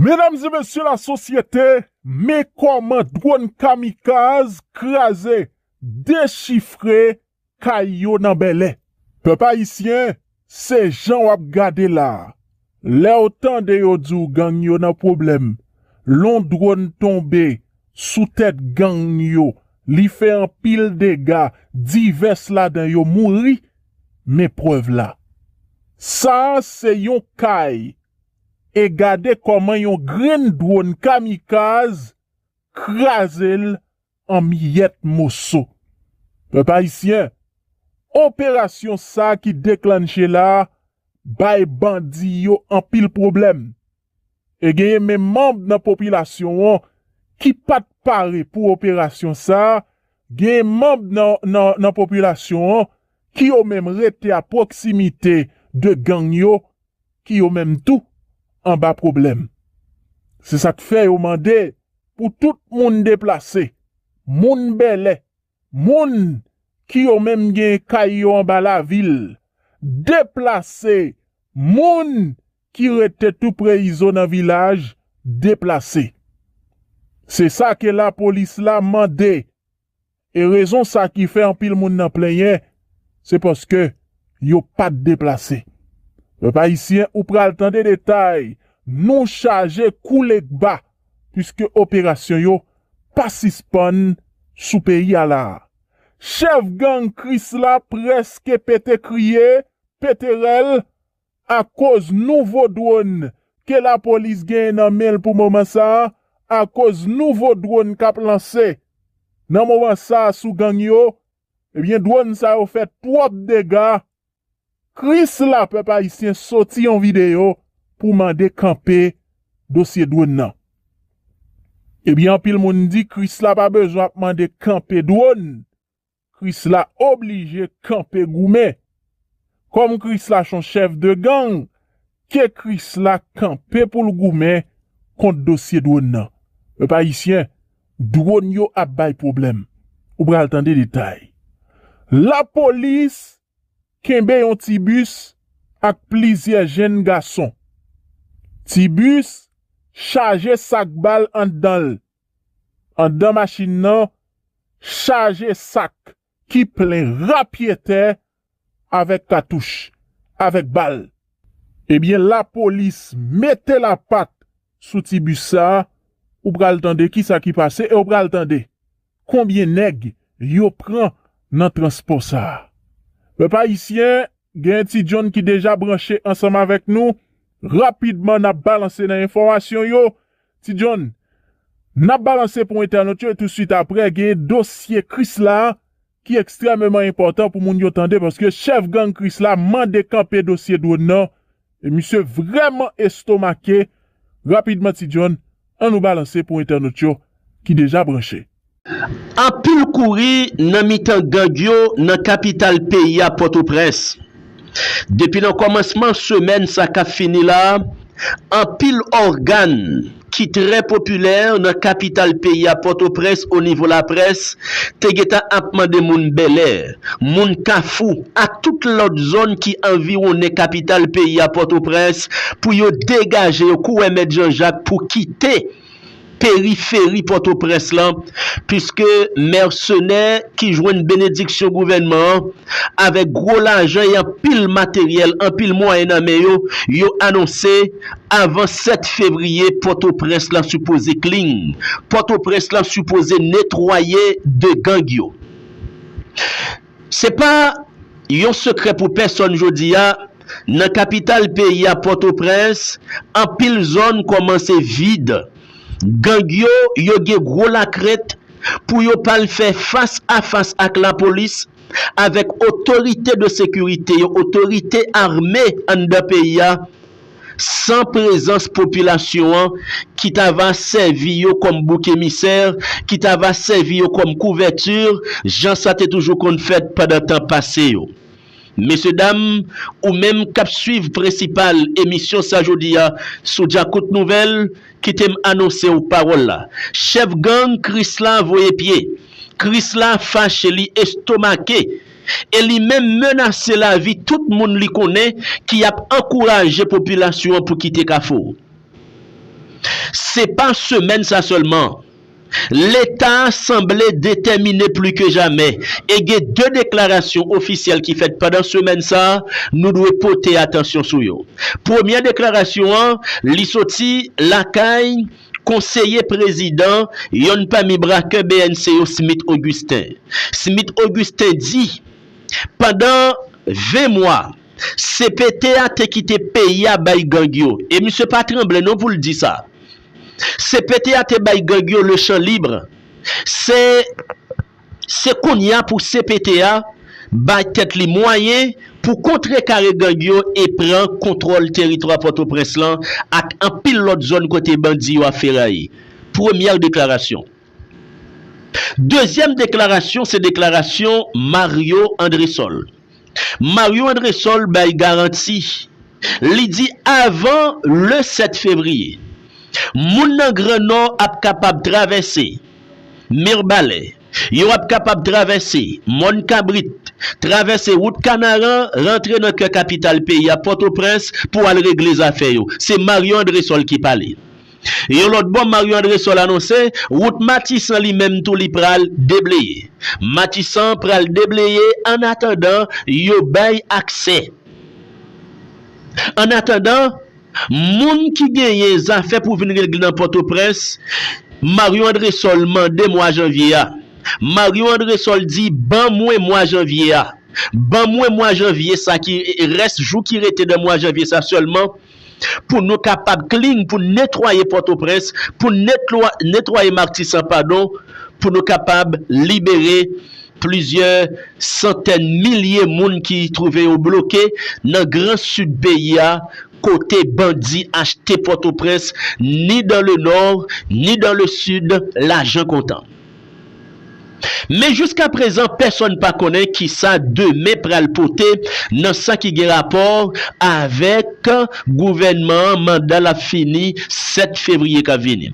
Medam e mesye la sosyete men koman drone kamikaz kraze dechifre kay yo nan bèlè. Pèp ayisyen se jan wap gade la lèw tande yo diw gang yo nan pwoblèm lon drone tonbe sou tèt gang yo li fè anpil dega divès ladan yo mouri men prèv la sa se yon kay E gade kòman yon grenn dwon kamikaz kraze l an miyèt moso. Pèp ayisyen, operasyon sa ki deklannche la bay bandi yo anpil pwoblèm. E genyen menm manb nan popilasyon an ki pa t pare pou operasyon sa, genyen manb nan popilasyon an ki yo menm rete a pwoksimite de gang yo ki yo menm tou anba pwoblèm. Se sa k fè yo mande pou tout moun deplase, moun Bèlè, moun ki yo menm gen kay yo anba lavil, deplase, moun ki rete tou pre izo nan vilaj, deplase. Se sa ke lapolis la mande E rezon sa ki fè anpil moun nan plenyen se paske yo pat deplase. Pèp ayisyen ou pral tande detay nou chaje koule kba puiske operasyon yo pa sispann sou peyi a la. Chèf gang krisla prèske pete kriye, pete rèl Akoz nouvo dwòn ke lapolis genyen nan men l pou moman sa, akoz nouvo dwòn k ap lanse nan moman sa sou gang yo, ebyen dwòn sa yo fè twòp dega, krisla pèp ayisyen soti yon videyo pou mande kanpe dosye dwòn nan. Ebyen anpil moun di krisla pa bezwen ap mande kanpe dwòn Kris la oblije kanpe goumen. Kom kris la son chef de gang ke kris la kanpe poul goumen kont dosye dwon nan. Pèp ayisyen dwon yo ap bay pwoblèm. Ou pral tande detay. Lapolis kenbe yon ti bis ak plizyè jenn gason. Ti bis chaje sak bal andanl. Anndan machin nan chaje sak ki plen rapyetè avèk katouch, avèk bal. Ebyen lapolis mete lapat sou ti bis sa, ou pral tande kisa ki pase e ou pral tande konbyen nèg yo pran nan transpò sa. Pèp ayisyen, gen Ti John ki deja branche ansanm avèk nou, rapidman n ap balanse nan enfòmasyon yo Ti John, N ap balanse pou entènot yo e tousuit aprè genyen dosye Krisla a ki ekstrèmeman enpòtan pou moun yo tande paske chèf gang Krisla mande kanpe dosye dwòn nan e misye vrèman estomake. Rapidman Ti John, an nou balanse pou entènot yo ki deja branche. Anpil kouri nan mitan gang yo nan kapital peyi a Pòtoprens. Depi nan kòmansman semèn sa k ap fini la, anpil ògàn ki trè popilè nan kapital peyi a Pòtoprens onivo laprès te gentan ap mande moun Bèlè, moun Kafou ak tout lòt zòn ki anviwonnen kapital peyi a Pòtoprens pou yo degaje yo kouwè Mèt Janjak pou kite. periferi Pòtoprens lan, puiske mèsenè ki jwenn benediksyon gouvènman an, avèk gwo lajan e anpil materyèl, anpil mwayen nan men yo, yo anonse, avan 7 fevriye, Pòtoprens lan sipoze klin, Pòtoprens lan sipoze netwaye de gang yo. Se pa yon sekrè pou pèsòn jodi a, nan kapital peyi a Pòtoprens, anpil zòn kòmanse vid. Gang yo, yo gen gwo lakrent pou yo pa al fè fas a fas ak lapolis, avèk otorite de sekirite yo, otorite ame anndan peyi a, san prezans popilasyon an ki ta va sèvi yo kòm bouk emisè, ki ta va sèvi yo kòm kouvèti, jan sa te toujou konn fèt pandan tan pase yo. Mesye dam, ou menm k ap suiv prensipal emisyon sa jodi a sou Djakout Nouvèl, kite m anonse w pawòl la, chèf gang Krisla voye pye, Krisla fache li estomake e li menm menase lavi tout moun li konnen ki ap ankouraje popilasyon an pou kite Kafou. Se pa semèn sa sèlman, Leta a sanble detèmine pli ke jamè e gen 2 deklarasyon ofisyèl ki fèt pandan semèn sa nou dwe pote atansyon sou yo. Premyè deklarasyon an, li soti lakay. Konseye prezidan, yonn pami brakè bnc yo Smith Augustin. Smith Augustin di, pandan 20 mwa, cpt a te kite peyi a bay gang yo, e misye pa tranble non pou l di sa. Cpt a te bay gang yo le champ libre. Se. Se kounya pou cpt a bay tèt li mwayen pou kontrekare gang yo e pran kontwòl teritwa Pòtoprens lan ak anpil lòt zòn kote bandi yo ap feraye. Premyè deklarasyon. Dezyèm deklarasyon se deklarasyon Mario Andresol. Mario Andresol bay garanti, li di avan le 7 fevriye, moun nan gran nò ap kapab travèse Mirbalè, yo ap kapab travèse mòn kabrit, travèse wout kanaran rantre nan kè kapital peyi a Pòtoprens pou al regle zafè yo. Se Mario Andresol ki pale. Yon lòt bò Mario Andresol anonse wout Matisan li menm tou li pral debleye. Matisan pral debleye an atandan yo bay aksè. An atandan moun ki genyen zafè pou vin regle nan Pòtoprens Mario Andresol mande mwa janvye a. Mario Andresol di ban mwen mwa janvye a. Ban mwen mwa janvye sa ki rès jou ki rete nan mwa janvye sa sèlman. Pou nou kapab clean pou n netwaye pòtoprens pou n netwaye martisan padon pou nou kapab libere plizyè santèn milye moun ki twouve yo bloke nan gran sid peyi a kote bandi achte pòtoprens ni dan le nò ni dan le sid lajan kontan. Men jiska prezan pèsòn pa konnen kisa demen pral pote nan sa ki gen rapò avèk gouvènman an manda l ap fini 7 fevriye k ap vini.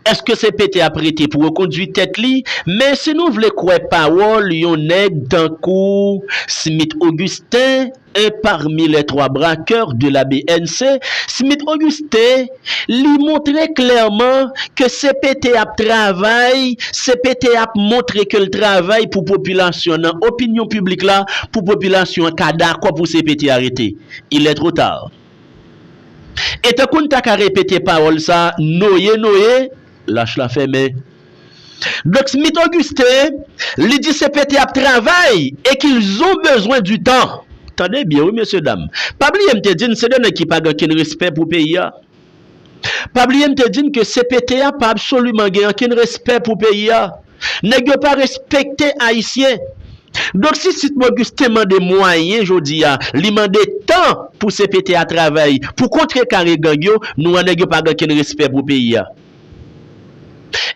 Eske se pete ap rete pou rekondwi tèt li men si nou vle kwè pawòl yon nèg tankou Smith Augustin, Un parmi les trois braqueurs de la bnc, Smith Auguste, li montre klèman ke cpt ap travay, cpt ap montre ke l travay pou popilasyon nan opinyon piblik la, pou popilasyon an ka dakò pou cpt arete. Il est trop tard. E tankou n ta ka repete pawòl sa, Noye noye, lach la fèmen. Luxmith Augustin, li di cpt ap travay e qu'ils ont besoin du temps. Tande byen wi mesye dam. Pa bliye m te di n se 2 nèg ki pa gen ankenn respè pou peyi a. Pa bliye m te di n ke cpt a pa absoliman gen ankenn respè pou peyi a. Nèg yo pa respekte Ayisyen. Donk si Sitmo Augustin mande mwayen jodi a, li mande tan pou cpt a travay pou kontrekare gang yo, nou wè nèg yo pa gen ankenn respè pou peyi a.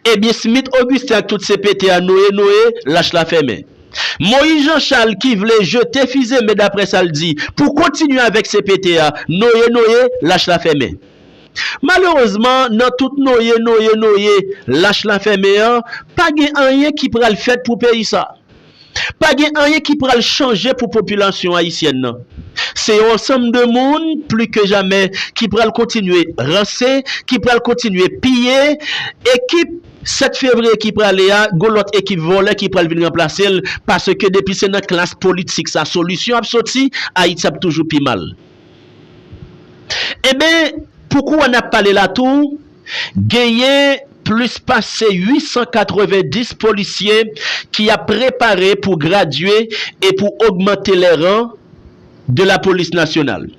Ebyen Smith Augustin ak tout CPT a noye noye, lach la fèmen. Moïse Jean Charles ki vle jete fize men daprè sa l di pou kontinye avèk CPT a, noye noye, lach la fèmen. Malerezman nan tout noye noye noye, lach la fèmen an, pa gen anyen ki pral fèt pou peyi sa. Pa gen anyen ki pral chanje pou popilasyon ayisyèn nan. Se yon ansanm de moun, pli ke jamè, ki pral kontinye ranse, ki pral kontinye piye. Ekip 7 fevriye ki prale a, gon lòt ekip vòlè ki pral vin ranplase l, paske depi se nan klas politik sa solisyon ap soti, Ayiti ap toujou pi mal. Enben, pou kou a n ap pale la tou, genyen plis pase 890 polisye ki ap prepare pou gradye e pou ogmante les rangs de la police nationale.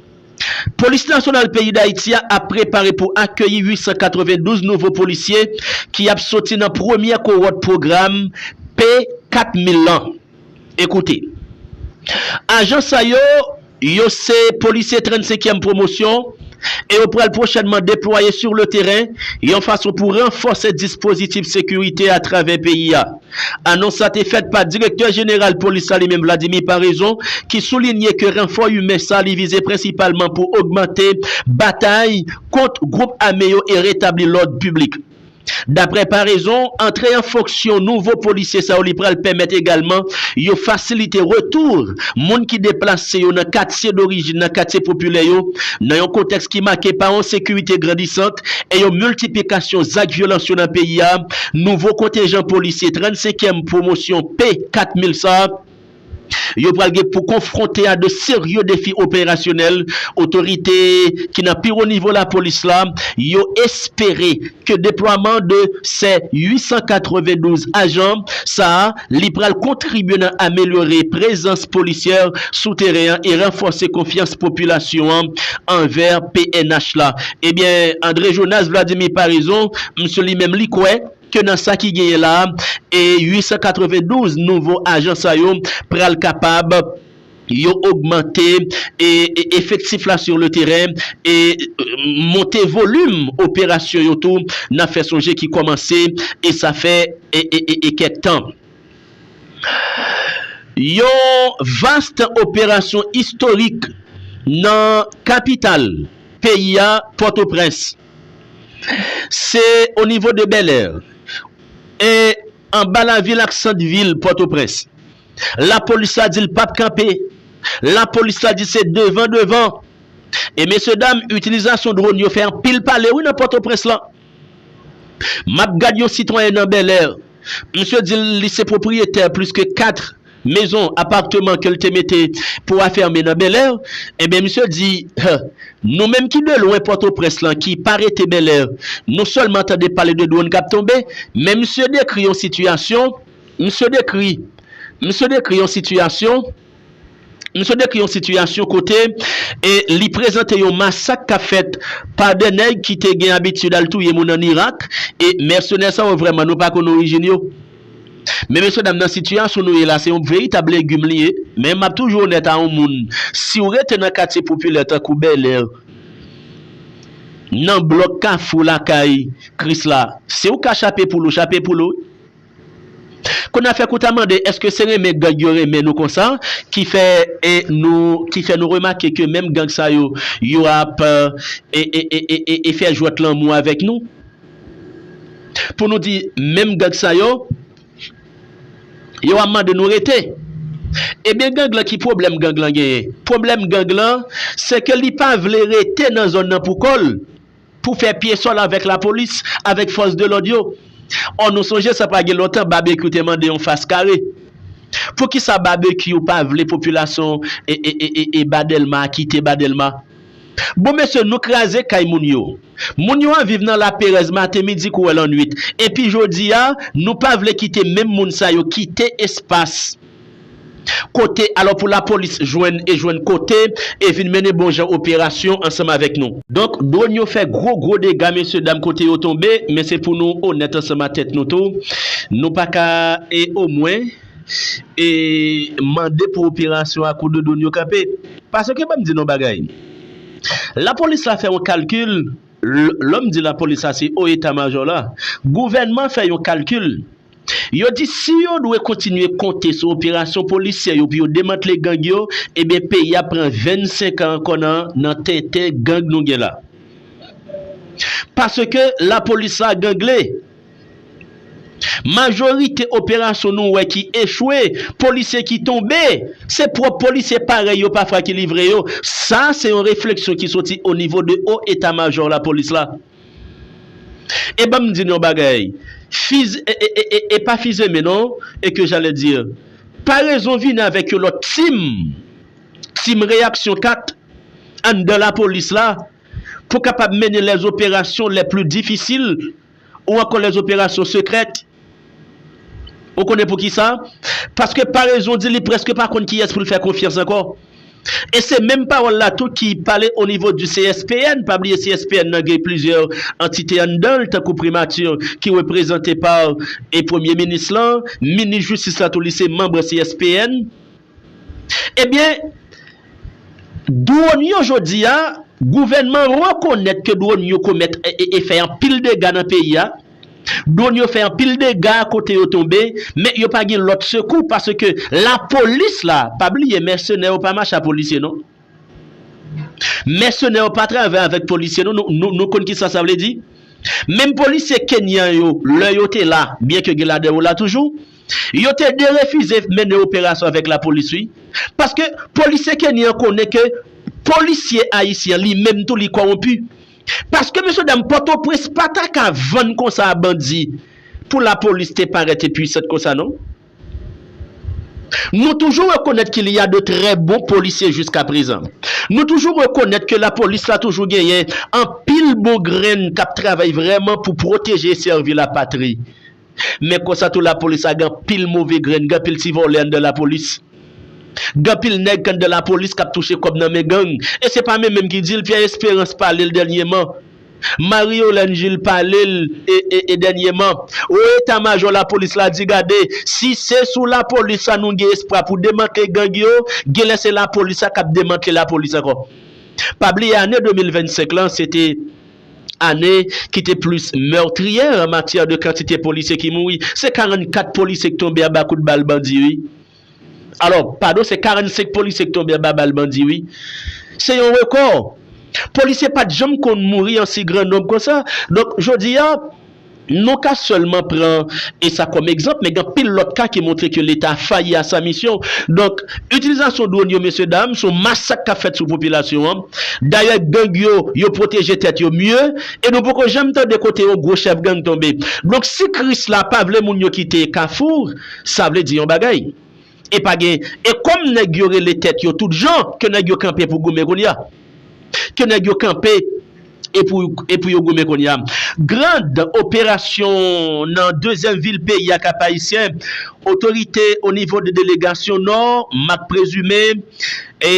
Polis nasyonal peyi Dayiti a ap prepare pou akeyi 892 nouvo polisye ki ap soti nan premyè kowòt pwogram P-4000 lan. Ekoute. Ajan sa yo, yo se polisye 35 yèm pwomosyon e yo pral pwochènman deplwaye sur le teren yon fason pou ranfòse dispozitif sekirite a travè peyi a. Anons sa te fèt pa direktè jeneral polis la li menm Vladimir Paraison ki soulinye ke ranfò imen sa li vize prensipalman pou ogmante batay kont gwoup ame yo e retabli lòd piblik. Daprè Paraison, antre an fonksyon nouvo polisye sa yo li pral pèmèt egalman yo fasilite retour moun ki deplase yo nan katye dorijin, nan katye popilè yo, nan yon kontèks ki make pa yon sekirite grandisant e yon miltiplikasyon zak vyolans yo nan peyi a, nouvo kontenjan polisye 35 èm pwomosyon P 4000 sa. Yo pral gen pou konfwonte a de serye defi operasyonèl, otorite ki nan pi wo nivo lapolis la yo espere ke deplwaman de se 892 ajan sa li pral kontribye nan amelyore prezans polisyè sou teren an e ranfòse konfyans popilasyon an anvè pnh la. Ebyen Andre Jonas Vladimir Paraison, misye li menm li kwè. ke nan sa ki genyen la a, 892 nouvo ajan sa yo pral kapab yo ogmante efektif la sur le teren e monte volim operasyon yo tou, n ap fè sonje ki kòmanse e sa fè kèk tan. Yon vast operasyon istorik nan kapital peyi a, Pòtoprens. Se o nivo de Bèlè e anba lavil ak sant vil Pòtoprens. Lapolis la di l pap kanpe. Lapolis la di se devan devan. E mesye dam itilizasyon dron yo fè anpil pale wi nan Pòtoprens lan. M ap gad yon sitwayen nan Bèlè. Misye di l li se pwopriyetè plis ke 4. mezon, aparteman ke l te mete pou afème nan Bèlè, enben misye di, huh, nou menm ki de lwen Pòtoprens lan ki pa rete Bèlè, nou sèlman tande pale de dwonn k ap tonbe, men misye dekri yon sitiyasyon, misye dekri, misye dekri yon sitiyasyon, misye dekri yon sitiyasyon kote e li prezante yon masak k ap fèt pa de nèg ki te gen abitid al touye moun an Irak, e mèsenè sa yo vrèman nou pa konn orijin yo. Men mesye dam nan sitiyasyon nou ye la se yon veritab legim li ye men map toujou onèt a yon moun siw rete nan katye popilè tankou bèlè nan blòk kafou lakay kris la siw ka chape poul ou chape poul ou wi kounye a fèk ou ta mande eske se renmen gang yo renmen nou konsa ki fè nou ki fè nou remake ke menm gang sa yo yo ap e e e e e fè jwèt lanmou avèk nou. Pou nou di menm gang sa yo, yo a mande nou rete. Ebyen gang lan ki pwoblèm gang lan genyen? Pwoblèm gang lan se ke li pa vle rete nan zòn nan pou kò l, pou fè pye sòl avèk lapolis, avèk fòs de lòd yo. Ò nou sonje sa pa gen lontan Babekyou te mande yon fas kare. Poukisa Babekyou pa vle popilasyon e e e e ba Dèlma a kite ba Dèlma? Bon mesye nou kraze kay moun yo. Moun yo an viv nan laperèz maten, midi kouwè lannwit. Epi jodi a, nou pa vle kite menm moun sa yo kite espas kote alò pou lapolis jwenn e jwenn kote e vin mennen bon jan operasyon ansanm avèk nou. Donk dwòn yo fè gwo gwo dega mesye dam kote yo tonbe men se pou nou onèt ansanm a tèt nou tou. Nou pa ka e omwen. e mande pou operasyon a kou de doun yo kanpe paske banm di nou yon bagay lapolis la fè yon kalkil lèm di lapolis la se o eta majò la gouvènman fè yon kalkil yo di si yo dwe kontinye konte sou operasyon polisyè yo pou yo demantle gang yo ebyen peyi ap pran 25 an ankò nan tenten gang nou gen la paske lapolis la gangle. Majorite operasyon nou wè ki echwe, polisye ki tonbe, se pwòp polisye parèy yo pafwa ki livre yo. Sa se yon refleksyon ki soti o nivo de o eta majò lapolis la. E ban m di n yon bagay, fiz e e pa fizeme non, e ke jalè dir. Parezon vini avèk yon lòt team, team reyaksyon 4, anndan lapolis la, pou kapab mennen lèzoperasyon lèpli difisil, Ou an kòlè zoperasyon sekrèt? Ou konnen poukisa? Paske parezon di li prèske pa konn kiyès pou l fè konfyans ankò. E se menm pawòl la tou ki pale o nivo di CSPN, pa bliye CSPN nan gen plizyè antite anndan l tankou Primati ki reprezante pa e Premye Minis lan, Minis Jistis la tou li se manb CSPN. Ebyen, dwòn yo jodi a, gouvènman an rekonèt ke dwòn yo komèt e fè anpil dega nan peyi a. Dwòn yo fè anpil dega kote yo tonbe, men yo pa gen lòt sekou paske lapolis la, pa bliye mèsenè yo pa mache a polisye non. Mèsenè yo pa travay avèk polisye nou, nou konn kisa sa vle di? Menm polisye Kenyan yo, lè yo te la, byen ke gen ladan yo la toujou, yo te derefize mennen operasyon avèk lapolis wi. Paske polisye Kenyan an konnen ke polisye Ayisyen an li menm tou li kowonpi. Paske mesye dam Pòtoprens pa ta ka vann konsa a bandi pou lapolis te parèt e pwisant konsa non. Nou toujou rekonèt ki li a de trè bon polisye jiska prezan. Nou toujou rekonèt ke lapolis la toujou genyen anpil bon grenn k ap travay vrèman pou pwoteje e sèvi lapatri. Men konsa tou lapolis la gen anpil move grenn, gen anpil ti vòlè anndan lapolis. Gen anpil nèg k anndan lapolis k ap touche kòb nan men gang. E se pa men menm ki di l, Pyè Esperans pale l dènyeman. Marie Holane Gilles pale l e dènyeman Wo eta majò lapolis la di gade si se sou lapolis sa nou gen espwa pou demantle gang yo genlè se lapolis sa kap demantle lapolis ankò. Pa bliye ane 2025 lan se te ane ki te plis meurtrière an matyè de kantite polisye ki mouri se 44 polisye ki tonbe anba kout bal bandi wi. Alò, padon se 45 polisye ki tonbe anba bal bandi wi. Se yon rekò. Polisye pat janm konn mouri an si gran nonb konsa. Donk, jodi a, nou ka sèlman pran e sa kòm egzanp, men gen anpil lòt ka ki montre ke Leta fayi a sa misyon. Donk, itilizasyon dwòn yo mesye dam, se yon masak k ap fèt sou popilasyon an. Dayè gang yo, yo pwoteje tèt yo mye e nou poko janm tande kote yon gwo chèf gang tonbe. Donk, si Kris la pa vle moun yo kite Kafou, Sa vle di yon bagay. E pa gen e kòm nèg yo rele tèt yo tout jan ke nèg yo kanpe pou goumen kounye a. Ke nèg yo kanpe e pou e pou yo goumen kounye a. Grand operasyon nan dezyèm vil peyi a Kap-Ayisyen, otorite o nivo de delegasyon Nò, Mak Prezime, e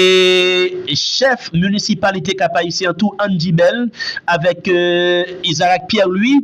chèf minisipalite Kap-Ayisyen an tou Andy Bell avèk Isarac Pierre Louis,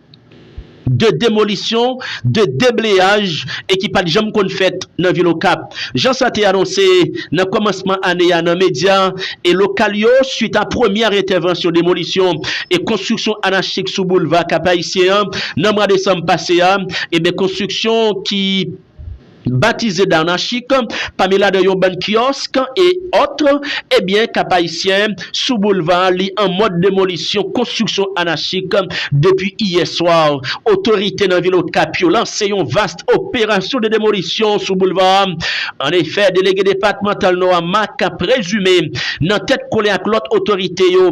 de demolisyon, de debleyaj e ki pat janm konn fèt nan vil Okap. Jan sa te anonse nan kòmansman ane a nan medya e lokal yo swit a premyè entèvansyon demolisyon e konstriksyon anachik sou boulva Kap-Ayisyen an nan mwa desanm pase a, eben konstriksyon ki. batize Darnachik, pami ladan yon bann kiosk et autres, ebyen Cap-Haïtien sou boulevard li an mòd demolisyon konstriksyon anachik depi iyè swa, otorite nan vil Okap yo lanse yon vast operasyon de demolisyon sou boulevard, an efè delege depatmantal Nò a Marc Présumé nan tèt kole ak lòt otorite yo.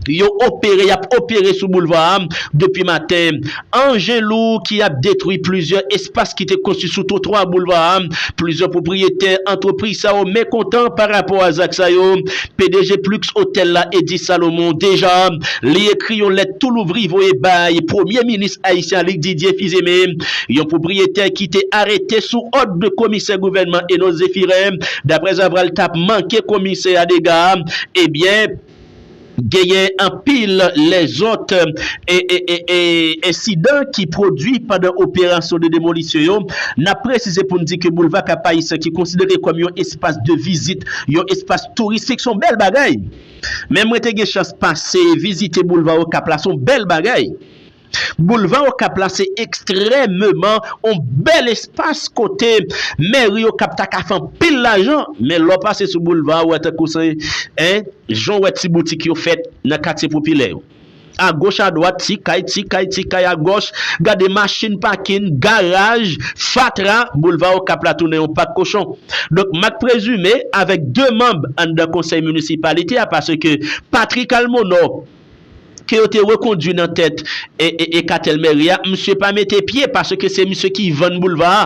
Yo opere y ap opere sou boulva a depi maten. Anjen lou ki ap detwi plizyè espas ki te konstwi sou twotwa boulva a. Plizyè pwopriyetè antrepriz sa yo mekontan pa rapò a zak sa yo. Pdg Plux Hotel la Eddy Salomon deja li ekri yon lèt tou louvri voye bay premye minis ayisyen a Luc Didier Fils-Aimé. Yon pwopriyetè ki te arete sou òd de komisè gouvènman Enos Zéphirin daprèzavra l t ap manke komisè a dega ebyen Genyen anpil lèzòt ensidan ki pwodui pandan operasyon de demolisyon yo. N ap presize pou n di ke Boulva Kapayisyen ki konsidere kòm yon espas de vizit, yon espas touristik, s on bèl bagay. Men mwen te gen chans pase vizite Boulva Okap la, s on bèl bagay. Boulva Okap la se ekstrèmeman on bèl espas kote mèri Okap ta ka fè anpil lajan, men lè w pase sou boulva a ou wè tankou se en, jan w wè ti boutik yo fèt nan katye popilè yo. Agoch adwat ti kay, ti kay, ti kay agòch, gade machin pakin, garaj, fatra, boulva Okap la tounen on pak kochon. Donk m ak Prezime avèk 2 manb anndan konsèy minisipalite a paske Patrick Almonor, ke yo te rekondwi nan tèt e katèl mèri a, misye pa mete pye paske se misye ki vann boulva a.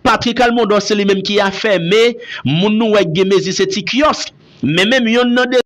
Patrick Almondor se li menm ki afème moun nou wè k gen mezi se ti kiosk. Men menm yonn nan 2.